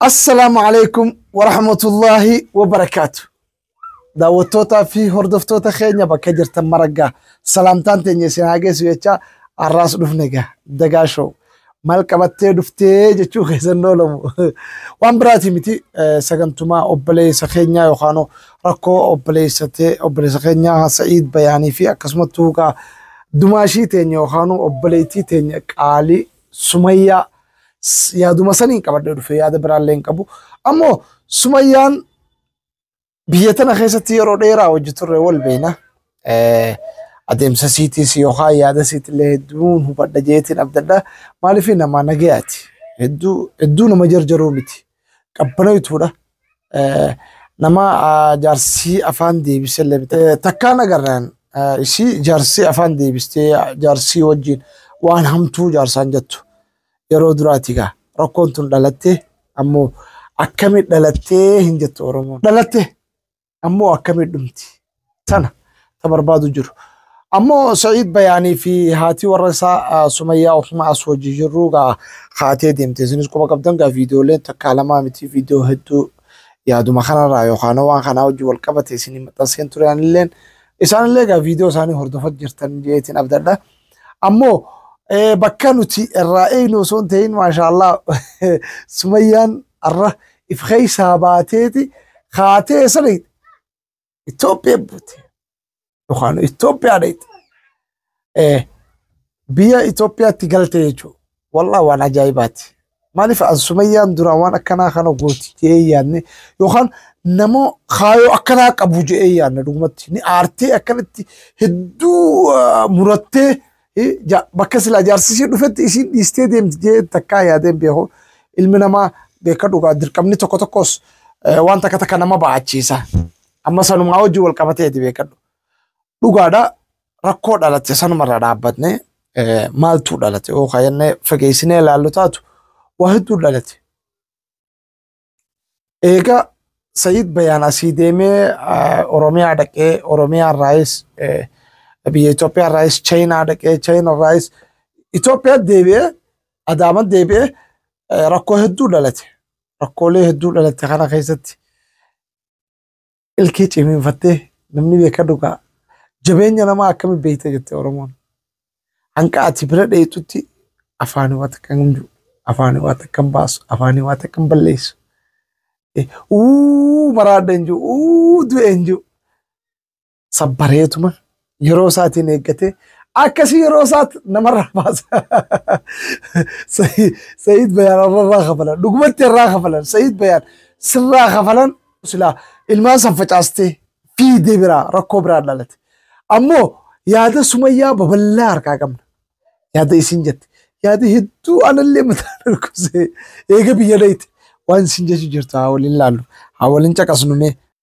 Assalaamu alaikum wa rahmatullaahi wa barakaatu. Daawwattootaa fi hordoftoota keenya bakka jirtan maraggaa salaamtaan teenya isin haa geessu jechaa har'aas dhufne egaa dagaa show maal qabattee dhuftee jechuu keessan oolamu waan biraatii miti eh, sagantumaa obboleessa keenyaa yookaan rakkoo obboleessa tee obboleessa keenyaa Sa'iid Bayaanii fi akkasumattuu egaa dumaashii teenya yookaan obboleettii teenya qaalii Sumayyaa s- yaaduma saniin qabadhee dhufe yaada biraallee hin qabu. Ammoo Sumayyaan biyya tana keessatti yeroo dheeraa hojii turre wal beekna. Eh, Adeemsa siitis yookaan yaada siitillee hedduun hubadha jeetiin abdadha. Maaliif nama nagayaati? Hedduu hedduu nama jarjaruu miti. qabbanoytuudha. Nama jaarsii afaan deebisee illee miti. Takkaan agarraan isii jaarsii afaan deebistee jaarsii wajjin waan hamtuu jaarsaan jettu yeroo duraati gaa rakkoon tun dhalattee ammoo akkamii dhalattee hin jettu Oromoon. Dhalattee Ammoo akkamii dhumti? Tana ta barbaadu jiru. Ammoo Sa'iid Bayaanii fi haatii warra isaa ah, Sumayyaa ofuma as hojii jirruu gaa haatee deemte. Isinis quba qabdan gaa viidiyooleen takkaa lamaa miti viidiyoo hedduu yaaduma kanarraa yookaan waan kanaa wajjin wal qabate isinii maxxanseen ture anilleen. Isaanillee gaa viidiyoo isaanii hordofat jirtan jeetiin abdadha. Ammoo eh, bakka nuti irraa eegnu osoo hin ta'in maashaallah sumayyaan arra if keessaa baateeti kaatee sani Itoophiyaa buute yookaan Itoophiyaa dhayxe eh, biyya Itoophiyaatti galte jechuudha. Wallah waan ajaa'ibaati. Maaliif an sumayyaan duraan waan akkanaa kana gooti jedhee yaadne yookaan nama kaayoo akkanaa qabu jedhee yaadne dhugumatti ni aartee akkanatti hedduu ah, murattee eh, ja- bakka silaa jaarsisii dhufetti isiin dhiistee deemti jedhee takkaa yaadeen beeku ilmi namaa beeka dhugaa dirqamni tokko tokkos eh, waan takka takka nama ba'achiisa amma sanumaa wajjin wal qabatee ti beekadhu dhugaadha rakkoo dhalate sanumarraa dhaabbatne eh, maaltu dhalate yoo kaayannee fageessinee ilaallu taatu waa hedduu dhalate. Eega Sayid Bayaan asii deemee eh, Oromiyaa dhaqee Oromiyaa irraayis eh, biyya Itoophiyaa irraayis Chaayinaa dhaqee Chaayinaa irraayis Itoophiyaa deebi'ee Adaama deebi'ee eh, rakkoo hedduu dhalate. Rakkoolee hedduu dhalate kana keessatti ilkee cimiinfattee namni beeka dhugaa jabeenya namaa akkami beekta jette Oromoon. Hanqa ati bira dheetutti afaanii waa takka hin jiru. Afaanii waa takka hin baasu. Afaanii waa takka hin balleessu. Eh, Uu maraadha hin jiru. Uu du'e hin jiru. sabbareetuma yeroo isaatiin eeggatee akkasii yeroo isaatti namarraa baasa. Sa'iid Bayaan irraa kafalan dhugumatti irraa kafalan Sa'iid Bayaan sirraa kafalan silaa ilmaan san facaastee fiidee biraa rakkoo biraa dhalate. Ammoo yaada sumayyaa babal'aa harkaa qabna. Yaada isin jette. Yaada hedduu anallee mataa dhukkubsee eega biyya dheeyte. Waan isin jechu jirtu haa waliin laallu. Haa waliin caqasnu mee.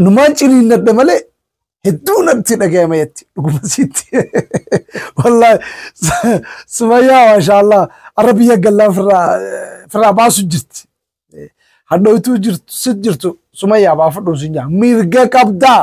Numaan ciniinnadha malee hedduu natti dhagayama jetti dhuguma sitti. Wallaahi sumayyaa maashaallah arra biyya gallaa firraa firraa baasu jirti. Hadhooytuu jirtu sit jirtu sumayyaa baafadhuun sin jaa mirga qabdaa.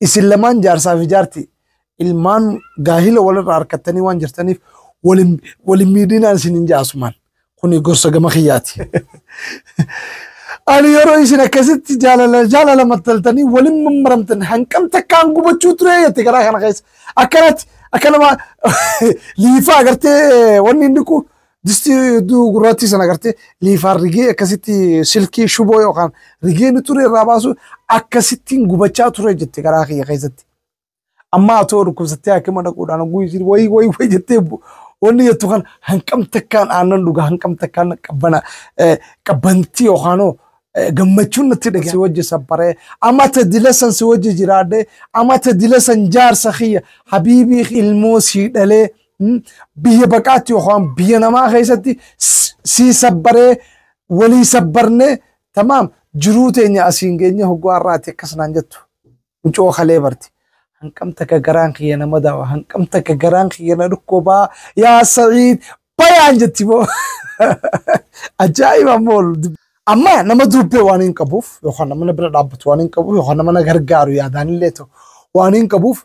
Isin lamaan jaarsaa fi jaarti ilmaan gaahila walirraa harkattanii waan jirtaniif walin walin miidhinaan isin hin jaasumaan. Kuni gorsa gama kiyyaati. Ani yeroo isin akkasitti jaalala jaalala mattaltanii walin mammaramtan hanqam takkaan gubachuu ture jette garaa kana keessa. Akkanatti akka nama liifaa agartee wanni inni kun Distii hedduu gurraattii sana agartee liifaan rigee akkasitti silkii shuboo yookaan rigee ni ture irraa baasu akkasittiin gubachaa ture jette garaa kiyya keessatti. Amma atoo dhukkubsattee hakima dhaquudhaan oguu isiin wayi wayi wayi jettee bu- wanni jettu kan hanqam takkaan aannan dhuga hanqam takkaan qabbana eh, qabbantii yookaanoo eh, gammachuun natti dhaga'e. Si wajji sabbaree amma tadilasan si wajji jiraadhee amma tadilasan jaarsa kiyya habiibii ilmoo sii dhalee Biyya baqaatti yookaan biyya namaa keessatti sii sabbaree walii sabbarnee tamaam jiruu teenya asiin geenye hoggaa irraatti akkas naan jettu. Mucoo kalee barti. Hanqam takka garaan kiyya nama daawa. Hanqam takka garaan kiyya na dhukkubaa. Yaa Sa'iid bayaan jetti moo. Ajaa'iba mool. Amma nama dubbee waan hin qabuuf yookaan nama na bira dhaabbatu waan hin qabuuf yookaan nama na gargaaru yaadaan illee ta'u waan hin qabuuf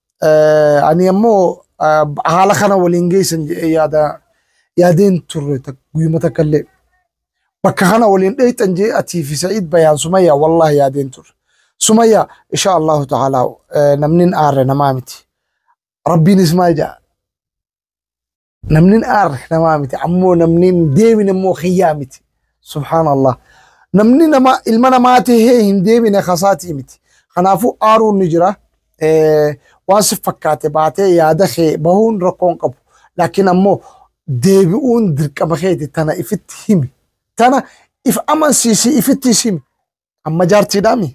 Eh, Ani ammoo ah, haala kana waliin geessan jedhee yaada yaadeen turre tak- guyyuma takka illee. Bakka kana waliin dheeyxan jee atii fi Sa'iid bayaan Sumayyaa wallahi yaadeen turre. Sumayyaa insha Allahu ta'ala eh, namnin aarre namaa miti. Rabbiinis maal jedha? Namni hin aarre namaa miti. Ammoo namni hin deebine immoo kiyyaa miti. Subhaanallah. Namni nama ilma namaa tahee hin deebine kasaatii miti. Kanaafuu aaruun ni jira. Eh, Waan si fakkaate baatee yaada kee bahuun rakkoo hin qabu. Laakiin ammoo deebi'uun dirqama keeti tana ifitti himi. Tana if amansiisii ifittis himi. Amma jaartiidhaami.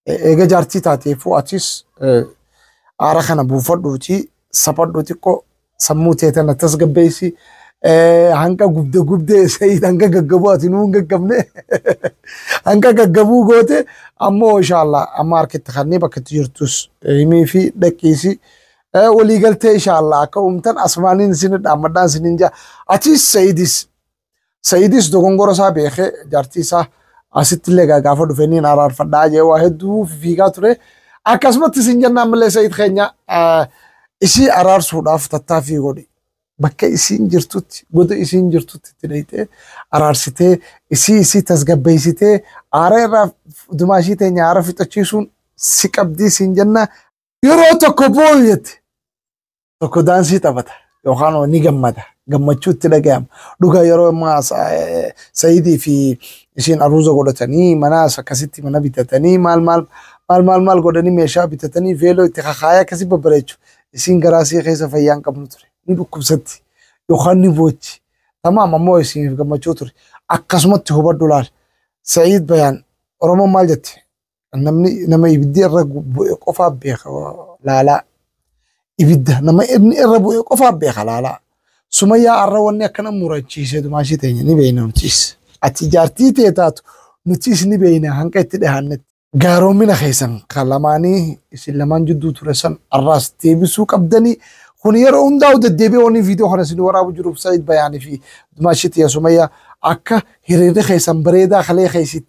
E- Eega jaartii taateefuu atis eh, aara kana buufadhuuti saphadhu xiqqoo sammuu tee tana tasgabbeessi. Eh, Hanga gubde gubde sayiid hanga gaggabuu ati nuu hin gaggabne. Hanga gaggabuu goote ammoo inshaallah amma harkitti kannee bakka itti jirtus eh, himii fi dhaqiisi. Eh, Waliigaltee inshaallah akka uumtan asmaaniin isin dhaammadhaan isin hin jaa. Atis sayiidis Sa'iidis dogongora isaa beekee jaartii isaa asitti illee gaafa dhufe niin araarfadhaa jee waa hedduu fiigaa ture. Akkasumatti isin jennaan malee Sa'iid keenya isii araarsuudhaaf tattaaffii godhi. Bakka isiin jirtutti goda isiin jirtutti itti dhayxee araarsitee isii isii tasgabbeessitee aara irraa dumaashii teenya aara fixachiisuun si qabdii siin jenna Yeroo tokko booyu jette. Tokko daansii taphata yookaan ni gammada. Gammachuu itti dhaga'ama. Dhugaa yeroo ammaa Sayidii fi ishiin aruuza godhatanii manaas akkasitti mana bitatanii maal maal maal maal maal godhanii meeshaa bitatanii veeloo itti kakaayaa akkasii babbareechu. Isiin garaa sii keessa fayyaa hin qabnu ture. Ni dhukkubsatti yookaan ni boochi. Tamaam ammoo isiiniif gammachuu ture. Akkasumatti hubadhu laal. Sayid Bayaan Oromoon maal jette? namni nama ibiddi irra bu'e qofaa beeka laalaa ibidda nama inni irra bu'e qofaa beeka laalaa sumayyaa arra wanni akkana murachiise dumaashii teenya ni beeyna nutis ati jaartii tee taatu nutis ni beeyna hanqa itti dhihaannetti gaaroommina keessan kan lamaanii isin lamaan jidduu ture san arraas deebisuu qabdanii kun yeroo hundaa'u deddeebi'ee wanni viidiyoo kana isin waraabu jiruuf Said Bayaanii fi dumaashii tiyya sumayyaa akka hiriirri keessan bareedaa kalee keessi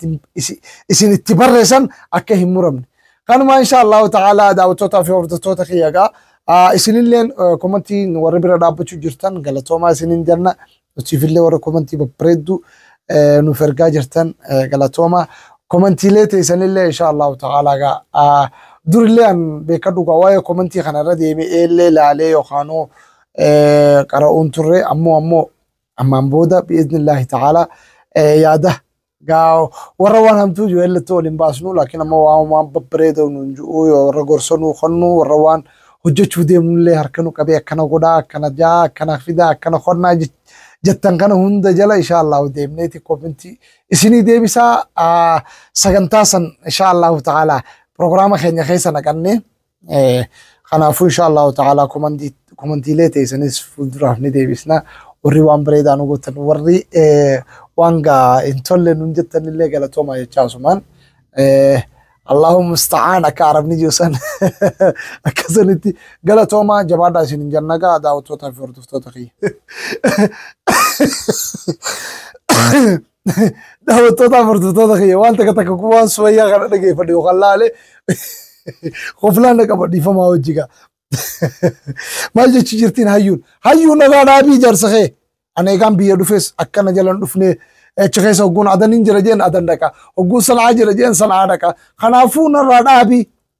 isin itti barreessan akka hin muramne. Kanumaa insha Allahu ta'ala daawwattootaa fi hordoftoota kiyya egaa isinilleen komantii warri bira dhaabbachuu jirtan galatoomaa isinin jenna. Nutifillee warra komantii babbareedduu nuuf ergaa jirtan galatoomaa. Komantiilee teessanillee insha Allahu ta'ala egaa durillee an beekaa dhugaa waa'ee komantii kanarra deemee eellee laalee yookaanuu qara'uun turre ammoo ammoo Ammaan booda bi'iznillaahi ta'aalaa eh, yaada gaa warra waan hamtuu jiru illattuu wal hin baasnu laakiin ammoo waan waan babbareedoo nuun jiru yoo warra gorsoo nuu konnu warra waan hojjechuu deemnullee harka nu qabee akkana godhaa akkana jaa akkana fidaa akkana konnaa jech- jettan kana hunda jala insha Allahu deemneeti kominti isinii deebisaa ah, sagantaa san insha Allahu ta'aalaa pirogiraama keenya keessa naqannee Kanaafuu insha Allahu ta'ala komantiilee teessanis fuulduraaf ni deebisna. Warri waan bareedaa nu gootan warri waan gaa hin tolle nun jettan illee galatooma jechaa asumaan. Allahu musta'aan akka arabni jiru san akka sanitti galatooma jabaadhaa isin hin janna gaa daawwattootaa fi hordoftoota kiyya. daawwattootaa furtutoota kiyya waan takka takka kun waan sumayyaa kana dhageeffadhe yookaan laale qoflaan dhaqaba dhiifamaa hojii gaa. Maal jechuu jirtiin hayyuun? Hayyuun nagaa dhaabii jaarsa kee. Ani egaan biyya dhufes akkana jalan dhufnee achi keessa hogguun adan hin jira jeen adan dhaqa. Hogguun sanaa jira jeen sanaa dhaqa. Kanaafuu narraa dhaabii.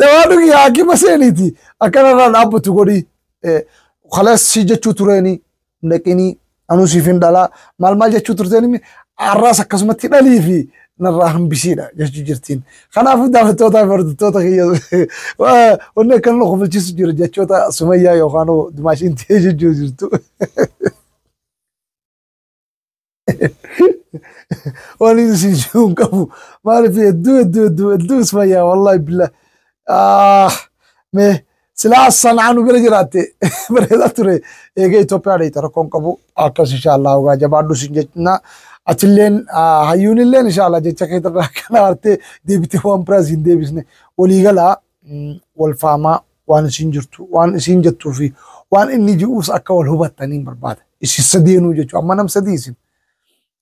Dawaan dhugi haakima seeniiti. Akkanarraa dhaabbatu godhi. Kalees si jechuu tureeni dhaqinii anuu siif hin dhalaa maal maal jechuu turteeni har'aas akkasumatti dhalii fi narraa hambisiidha jechuu jirtiin. Kanaafuu daawwattootaa fi hordoftoota kiyya wanni akkan nu kofalchiisu jira jechoota sumayyaa yookaan dumaashiin ta'ee jechuu jirtu. waan inni siin jiru hin qabu maaliif hedduu hedduu hedduu hedduu isfayyaa wallaahi billah ah me silaa sanaa nu bira jiraatte bareedaa ture eega Itoophiyaa dheeyte rakkoon qabu akkas inshaallah hogaa jabaadhu siin jechnaa atilleen hayyuunilleen inshaallah jecha keetirraa kana hartee deebitee waan biraas hin deebisne walii galaa wal faamaa waan isiin jirtu waan isiin jettuu fi waan inni ji'uus akka wal hubattaniin barbaada. Isin sadeenuu jechuudha. Amma nam sadii isin.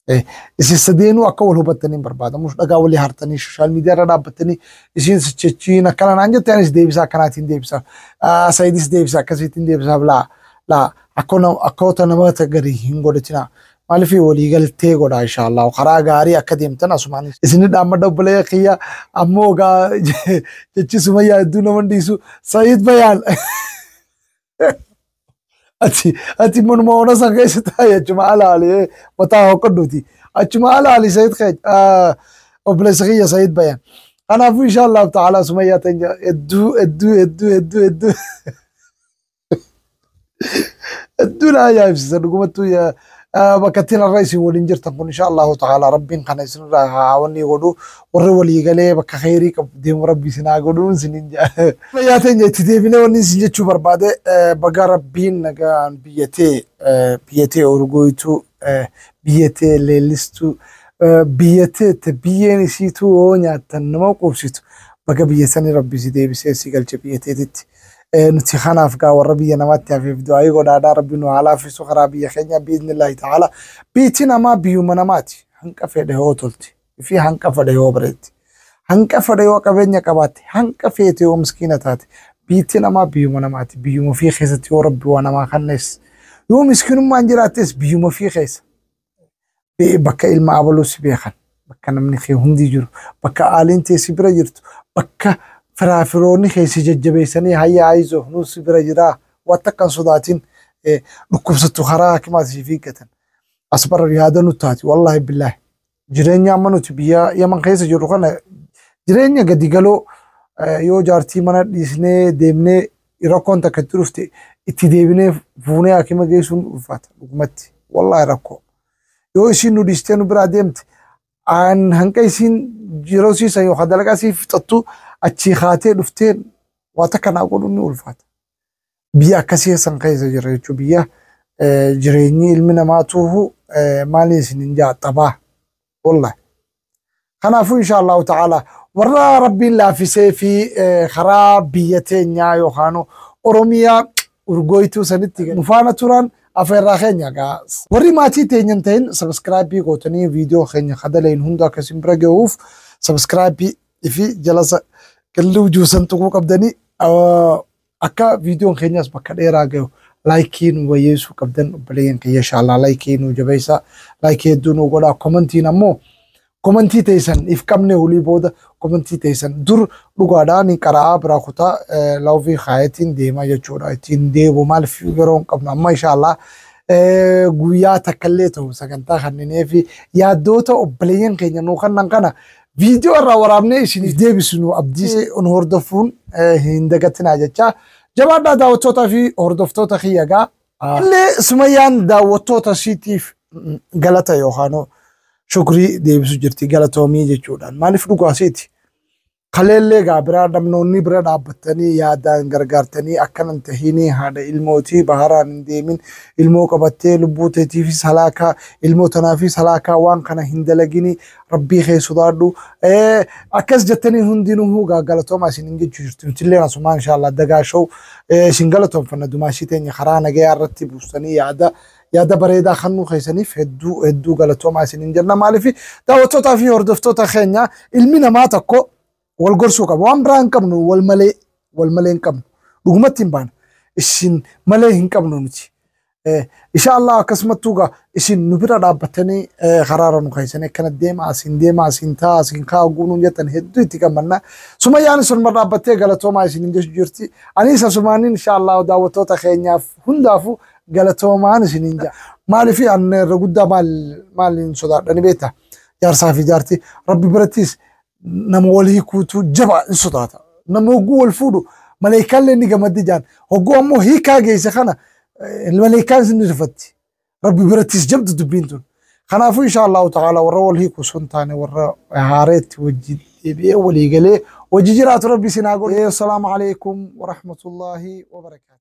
Eh, Isin sadeenuu akka wal hubattaniin barbaada. Mus dhagaa walii hartanii sooshaal miidiyaa irra dhaabbattanii isiin sichechiin akkana naan jette anis deebisaa akkanaatiin deebisaaf. Ah, Sayidis deebisa akkasiitiin deebisaaf laa laa akkoo nam- akkoota namoota garii hin godhatinaa. Maalifii walii galtee godhaa inshaallahu karaa gaarii akka deemtan asumaan isinni dhaammadha obboleeyya kiyya ammoo gaa jechi sumayyaa hedduu nama hin dhiisu sa'iid bayaan ati ati manuma ona san keessa taa'e achuma alaali eh, mataa hoqqadhuuti achuma alaali sa'iid kee ah, obboleessa kiyya sa'iid bayaan kanaafuu inshaallahu ta'ala sumayyaa teenya hedduu hedduu hedduu hedduu hedduu Hedduu na ajaa'ibsiisa dhugumattuu yaa- ah, bakka ittiin har'a isin waliin jirtan kun insha Allahu ta'ala rabbiin kana isinirraa haa wanni godhu warri walii galee bakka kheyrii qabu deemu rabbi isin haa godhu isinin jaa. Fayyaa teenya itti deebinee wanni isin jechuu barbaade eh, baga rabbiin nagaan biyya tee eh, biyya tee urgooytuu eh, biyya tee leellistuu eh, biyya tee te biyyeen isiituu yoo nyaattan nama quubsitu baga biyya sanii rabbi si deebisee si galche biyya teetitti. Eh, nuti kanaaf gaa warra biyya namaatti hafeef du'aayii godhaadhaa rabbi nu haa laaffisu karaa biyya keenya biiznillaahi ta'ala biitiin namaa biyyuma namaati hanqa fedhe yoo tolti fi hanqa fedhe yoo bareetti hanqa fedhe yoo qabeenya qabaatte hanqa feete yoo miskiina taate biitii namaa biyyuma namaati biyyuma ofii keessatti yoo rabbi waa namaa kannees yoo miskiinummaan jiraattes biyyuma ofii keessa bakka ilma abaluu si beekan bakka namni kee hundi jiru bakka aaliin tee si bira jirtu bakka firaa firoonni kee si jajjabeessanii hayya ayizo nuu si bira jiraa waan takka hin sodaatin eh, dhukkubsattu karaa hakimaa si fiiggatan as bara yaada nu taati wallaahi billaahi jireenya amma nuti biyya yaman keessa jirru kana jireenya gadi galoo eh, yoo jaartii mana dhiisnee deemnee rakkoon takka itti dhufte itti deebinee fuunee hakima geessuun ulfaata dhugumatti wallaahi rakkoo yoo isiin nu dhiistee nu biraa deemte aan hanqa isiin yeroo siisan yookaan dalagaa sii fixattu achii kaatee dhuftee waa takka naa godhuun ni ulfaata biyya akkasii keessan keessa jira jechuun biyya jireenyi ilmi namaa tuuhu maaliin isin hin jaaxabaa. wallahi kanaafuu insha allahu ta'ala warra rabbiin laafisee fi eh, karaa biyya teenyaa yookaan oromiyaa urgooytuu sanitti nu faana turan afeerraa keenya gaa warri maatii teenyan ta'in sabiskiraabii gootanii viidiyoo keenya kadalayin hunda akka isin bira gahuuf sabiskiraabii fi jalasa galluu juusan tuquu qabdanii ah, Akka viidiyoon keenyas bakka dheeraa gahu laayikii nu bayyeessuu qabdan obboleeyyan kiyya inshaallah laayikii nu jabeessa laayikii hedduu nu godha komantiin ammoo komantii teessan if qabne hulii booda komantii teessan dur dhugaadha ni qara'aa biraa kutaa eh, laawvii kaayatiin deemaa jechuudha ittiin deebu maaliif yeroo hin qabnu amma inshaallah eh, guyyaa takkallee ta'u sagantaa kanneenii fi yaaddoota obboleeyyan keenya nu kannan kana Viidiyoo irraa waraabnee isiniif deebisnu abdii nu hordofuun eh, hin dagatinaa jecha. Jabaadhaa daawwattootaa fi hordoftoota kiyya egaa. Illee Sumayyaan daawwattoota siitiif mm, galata yookaan shukrii deebisu jirti galatoomii jechuudhaan. Maaliif dhugaa siiti? Kaleellee egaa bira namnoonni bira dhaabbattanii yaadaan gargaartanii akkana hin tahiinii haadha ilmootii baharaan hin deemin ilmoo qabattee lubbuu teetiifis halaakaa ilmoo tanaafis halaakaa waan kana hin dalaginii Rabbii kee sodaadhu. Eh, Akkas jettanii hundinuu gaa galatoomaa isin hin jechuu jirtu. Nutillee asumaa inshaallah dagaa show eh, isin galatoomfanna dumaashii teenya karaa nagayaa irratti buustanii yaada yaada bareedaa kannuu keessaniif hedduu hedduu galatoomaa isin hin jenna maaliif daawwattootaa fi hordoftoota keenya ilmi namaa tokko wal gorsuu qaba. Waan biraa hin qabnu wal malee wal malee hin qabnu. Dhugumatti hin baana. Isin malee hin qabnu nuti. Eh, Insha Allah akkasumattuu gaa isin nu bira dhaabbattanii eh, karaara nu keessanii akkana deema asiin deema asiin taa asiin kaa guunuun jettan hedduu itti gammanna. Sumayyaan isinuma dhaabbattee galatoomaa isin hin jechu jirti. Anis asumaaniin insha Allah daawwattoota keenyaaf hundaafuu galatoomaan isin hin jaa. Maaliif an irra guddaa maal maaliin sodaadhani beektaa? Jaarsaa fi jaartii rabbi birattis nama wal hiikuutu jabaa in sodaata. Nama hogguu wal fuudhu maleeykaallee ni gamaddi jaan. Hogguu ammoo hiikaa geesse kana eh, maleeykaan isin ni rifatti. Rabbi birattis jabdu dubbiin tun. Kanaafuu insha Allahu ta'ala warra wal hiiku sun taane warra haareetti wajji deebi'ee walii galee wajji jiraatu rabbi isin haa godhu. Assalaamu alaikum wa rahmatullahi wa barakaatu.